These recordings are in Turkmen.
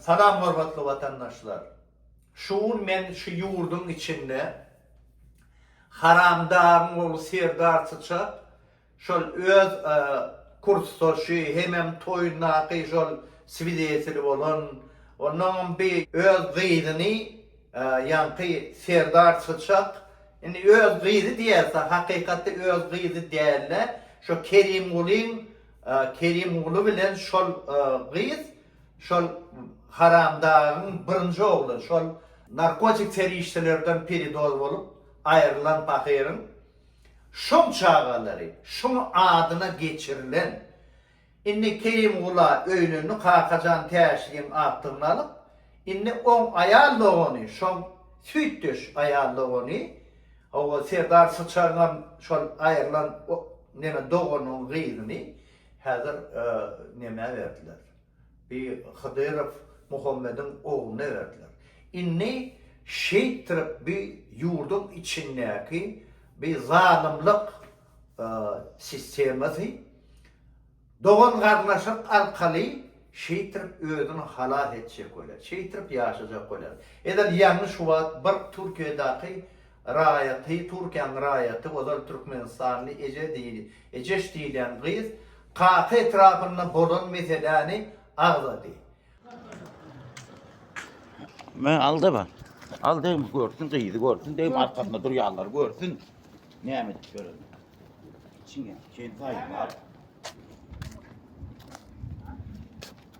Salam hormatly watandaşlar! Şu gün men şu ýurduň içinde haramdaryň ogly Serdar Syçak şol öz kursdaşy hemem toýundaky şol swideteli bolan onnoňam bi öz gyzyny ýaňky Serdar Syçak indi öz gyzy diýerse hakykatda öz gyzy dälde şo Kerimgulyň Kerimguly bilen şol gyz Şol haramdagyň birinji ogly şol narkotik serişdelerden piridoz bolup aýrylan pahyryň şoň çagalary, şoň adyna geçirilen. Indi Kerimgula öýlendi Kakajan Täşliň agtygyny alyp, indi oň aýal dogany, şoň süýtdeş aýal dogany, hawa Serdar Syçaryňam şol aýrylan neme doganyň gyzyny, Häzir Nemä berdiler? Bi Hydyrow Muhammediň ogluna berdiler. Indi şeýtdirip bi ýurduň içindäki bi zalymlyk sistemasy dogan-garnaşyk arkaly şeýtdirip özüni halas etjek welin, şeýtdirip ýaşajak welin. Edil ýaňy şu wagt bir Türkiýedäki Raýaty, Türkiýäň raýaty, ozal türkmenistanly eje diýil, ejeş diýilýän gyz Kaka etrapynda bolan meseläni agzady. Men alda bar. Al degme görsün gyzy görsün degme arkasynda durýanlar görsün. Näme edip gören. Çiňe, çeýin saýyp al.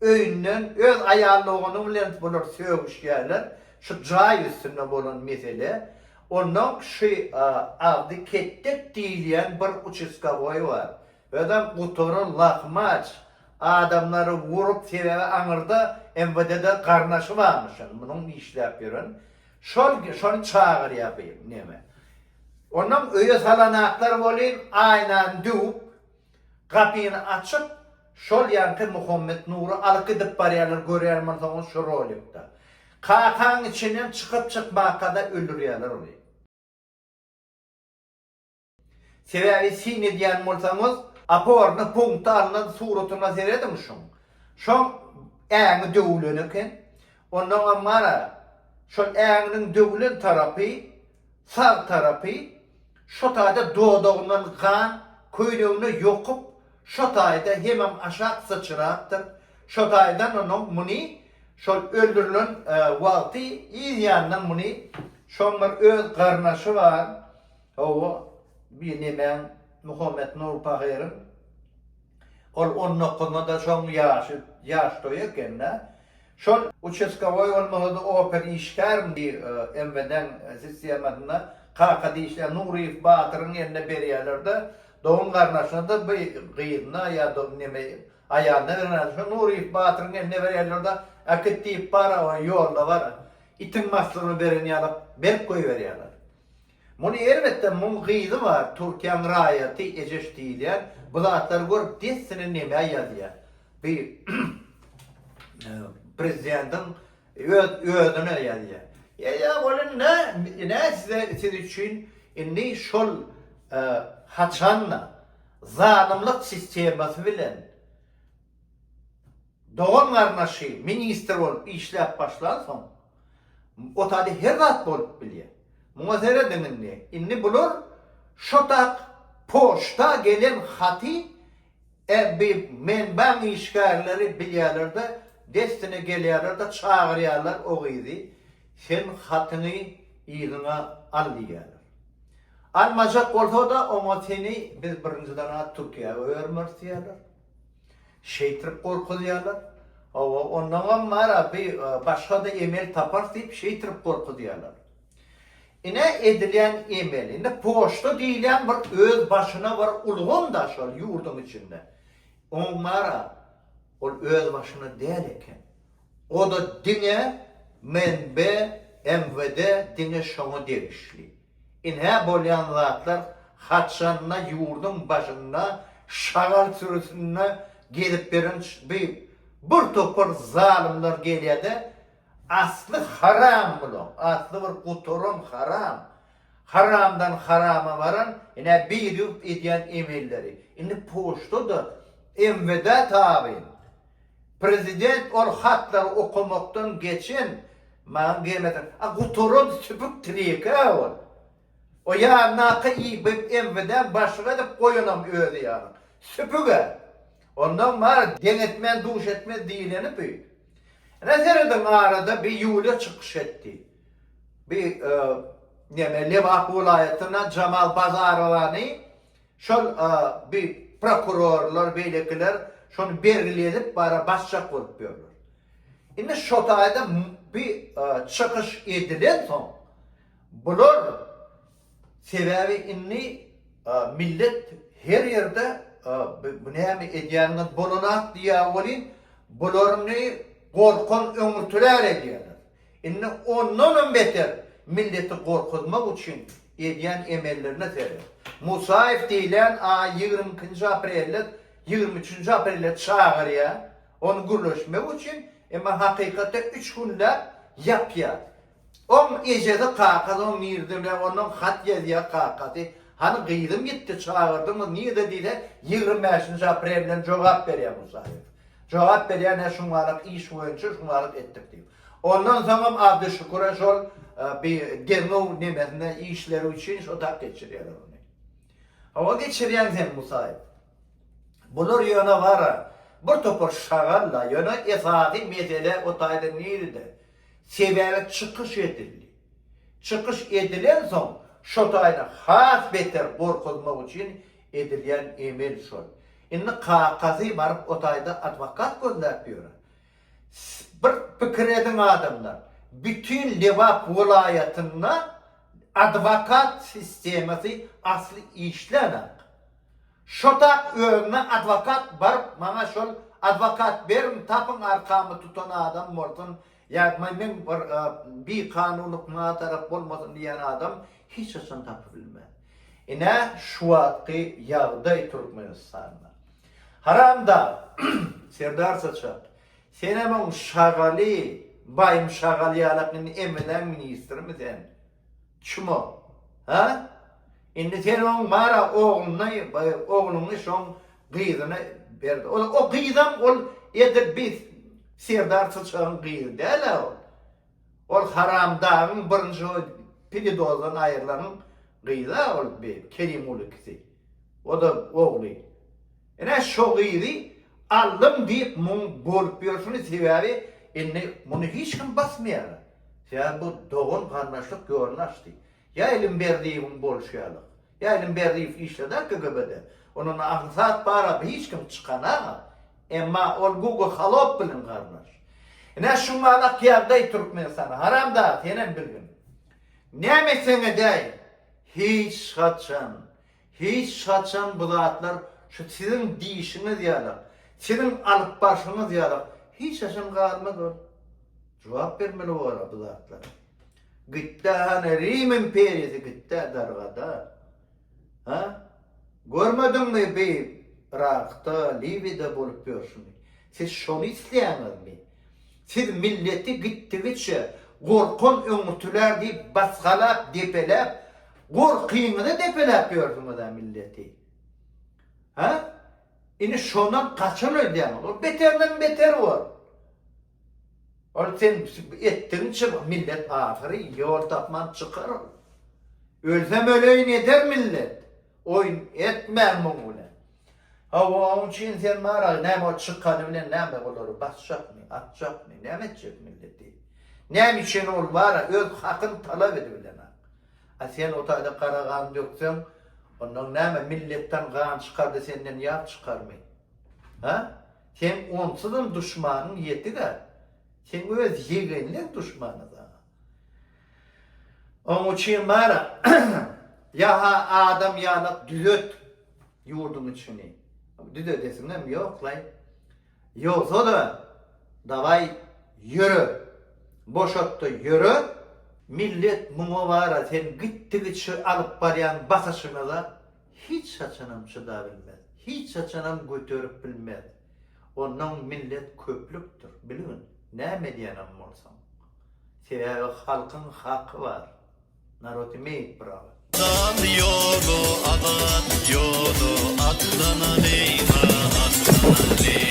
Öýünden öz aýal dogany bilen bular sögüşýärler, şu jaý üstünde bolan mesele. Onnoň şu agzy ketdek diýilýän bir uçeskawoý bar. Özem gutary lahmaç, adamlary urup, sebäbi aňyrda MWD-de garnaşy barmyş indi munuň işläp ýören. Şol şony çagyrýar bu neme. Onnoň öýe salanaklar welin aýnany döwüp, Gapyny açyp, şol ýanky Muhammet Nury alyp gidip barýarlar, görýän bolsaňyz şu rolikde. Kakaň içinden çykyp-çykmakada öldürýärler ony. Sebäbi syn edýän bolsaňyz, oporny punkty alnan suratyna serediň şuň. Şoň äňi döwülen eken. Onnoňam gara, şol äňiniň döwülen tarapy, Sag tarapy şo taýda dodagyndan gan köýnegine ýokup, şo taýda hemem aşak syçrapdyr. Şo taýdan onuň muny şol öldürilen wagty yz ýandan muny şoň bir öz garnaşy bar, hawa, bir nemäň, Muhammet Nur pahyryň, ol on dokuzynda-da şoň ýaşy, ýaş toýy eken-dä, Şol uçestkowoý bolmasa-da oper işgärim diýip, MWD-niň sistemasynda kaka diýişýän Nuryýew batyryň eline berýärler-de, dogan-garyndaşyna-da bu gyzyna ýa neme aýalyna berenok, şo Nuryýew batyryň eline berýärler-de, Äkit diýip bar, ýolda bar, itiň maslygyna beren ýaly berk goýberýärler. Muny erbetde muň gyzy bar Türkiýäň raýaty ejeş diýilýän bu zatlary görüp dessine nemä ýazýar bi prezidentiň öz özüne ýazýar. Ýa ýa welin nä nä size siz üçin indi şol haçanda zalymlyk sistemasy bilen dogan garnaşy ministr bolup işläp başlansoň Otady her zat bolup bilýär. Muňa serediň indi. Indi bular şotak poçta gelen haty ebbi menbaň işgärleri bilýärler-de, dessine gelýärler-de çagyrýarlar o gyzy, sen hatyňy yzyňa al diýýärler. Almajak bolsa-da, oňa seni biz birinjiden-ä Türkiýä goýarmarys diýýärler. Şeýtrip gorkuzýarlar. Hawa, ondaňam bar-a, bi başga-da emel taparys diýip, şeýtrip gorkuzýarlar. Ine, edilýän emel. Indi poçta diýilýän bir öz başyna bir ulgam-da şol ýurduň içinde. Oň bar-a, ol öz başyna däl eken. O-da diňe MNB, MWD diňe şoňa degişli. Ine bolýan zatlar haçanda ýurduň başynda şagal sürüsinde gezip ýören by bir topar zalymlar gelýärde asly haram bulaň asly bir gutaran haram haramdan harama baran ine bir ýurt edýän emelleri indi poçtada MWD tabyn Prezident ol hatlary okamakdan geçen maňa gelmeseň a gutaran süpük tirekä ol. O ýandaky i BMWdäň başlyk edip goýanam özi ýaly. Süpügä. Ondan bari deň etmän duş etmez diýileni bü. Ine serediň arada bi Ýuliýa çykyş etdi. Bi neme Lebap welaýatyndan Jamal Bazarowany Şol bi prokurorlar beýlekiler şony bergili edip bara basjak bolup ýörler. Indi şo taýda bi çykyş edilen soň bular sebäbi indi millet her ýerde bi näme edýäniňiz bolanat diýýä welin bularyny gorkan öňürtiler edýäler. Indi ondanam beter milleti gorkuzmak üçin edýän emellerine seret. Musaýew diýlen a ýigrimi ikinji aprelde ýigrimi üçünji aprelde çagyrýar ony gürleşmek üçin emma hakykatda üç günläp ýapýar. Oň ejesi kakasy oň nirdele ondan hat ýazýar kakasy hany gyzym gitdi çagyrdyňyz nirde diýse ýigrimi bäşinji aprelden jogap berýär Musaýew. Jogap berýär nä şuňňalyk iş boýunça şuňňalyk etdik diýip. Ondan soňam Abdyşüküre şol bi derňew nemesine işleri üçin şo tak geçirýärler ony. Hawa geçirýäň sen Musaýew. Bular ýöne bara bir topar şagal la ýöne esasy mesele o taýdan nirede? Sebäbi çykyş edildi. Çykyş edilen soň şo taýdan has beter gorkuzmak üçin Edilýän emel şol. Indi kakazy baryp o taýda adwokat gözläp ýöre. Bir pikir ediň adamlar, bütin Lebap welaýatynda adwokat sistemasy asly işlänok. Şotak özüne adwokat baryp maňa şol adwokat beriň tapyň arkamy tutan adam bolsun Ýatmaý meň bir bi kanulyk maňa tarap bolmasyn diýýän adam hiç haçan tapybilmän. Ine şu wagtky ýagdaý Türkmenistanda. Haramdag Serdar saçak senem oň şagaly baýym şagal ýalak indi emeleň ministrimi sen. Çumo. Hä? Indi sen oň bar-a ogluny, ogluňy şoň gyzyna berdi. Ol o gyzam ol edil bi Serdar Çyçagyň gyzy däl-ä ol. Ol haramdagyň birinji pididozdan aýrylanyň gyzy-a ol bi Kerimguly kisi. O-da ogly. Ine, şo gyzy aldym diýip muň bolup ýörşüni, sebäbi indi muny hiç kim basmaýar. Sebäbi bu dogan-garyndaşlyk ýoluny açdy. Ýaýlym Berdiýewiň bolşy ýaly. Ýaýlym Berdiýew işledi-ä KGB-de. Ondan-da agyr zat barady, hiç kim çykan-a. Emma ol Gugo Halow bilen garyndaş. Ine, şuňa alak ýagdaý Türkmenistanda. Haramdag, senem bilgin. Näme etseň edäý, hiç haçan, hiç haçan bu zatlar şu siziň diýişiňiz ýaly, siziň alyp barşyňyz ýaly hiç haçan galmaz ol. Jogap bermeli bolar bu zatlara. Gitdi hany Rim imperiýasy gitdi dargada. Hä? Görmediňmi bi Yrakda, Liwiýada bolup ýörşüni? Siz şony isleýäňizmi? Siz milleti gitdigiçe gorkan öňürtiler diýip basgalap, depeläp, gorkyňyzy depeläp ýörsiňiz-ä milleti. Hä? Indi şondan gaçan öýdýäňiz. Ol beterinem beter bor. Ol sen etdigiňçe millet ahyry ýol tapman çykar ol. Ölsem öleýin eder millet. Oýun etmäň muň bilen. Hawa oň üçin sen maraly näme ol çykany bilen näme olary basjakmy atjakmy näme etjek milleti. Näme üçin ol bara öz hakyn talap edibilenok. A sen o taýda gara gan dökseň ondan näme milletden gan çykardy senden ýag çykarmy. Ha? Seň onsuzam duşmanyň ýetik-ä. Seň öz ýegenleň duşman-a saňa. Oň üçin bar-a, ýa-ha adam ýalak düzet ýurduň içini. Düzedesiňem ýok-laý. Ýogsa-da, dawaý, ýöre. Boşat-da ýöre. Millet muňa bar-a, sen gitdigiçe alyp barýan basyşyňyza. hiç haçanam çydabilmez, hiç haçanam göterip bilmez. Onnoň millet köplükdir, bilgin, näme edýänem bolsaň. Sebäbi halkyň haky bar. Narod imeýit bravo. Dal ýoly azat ýoly atlanaly ha atlanaly.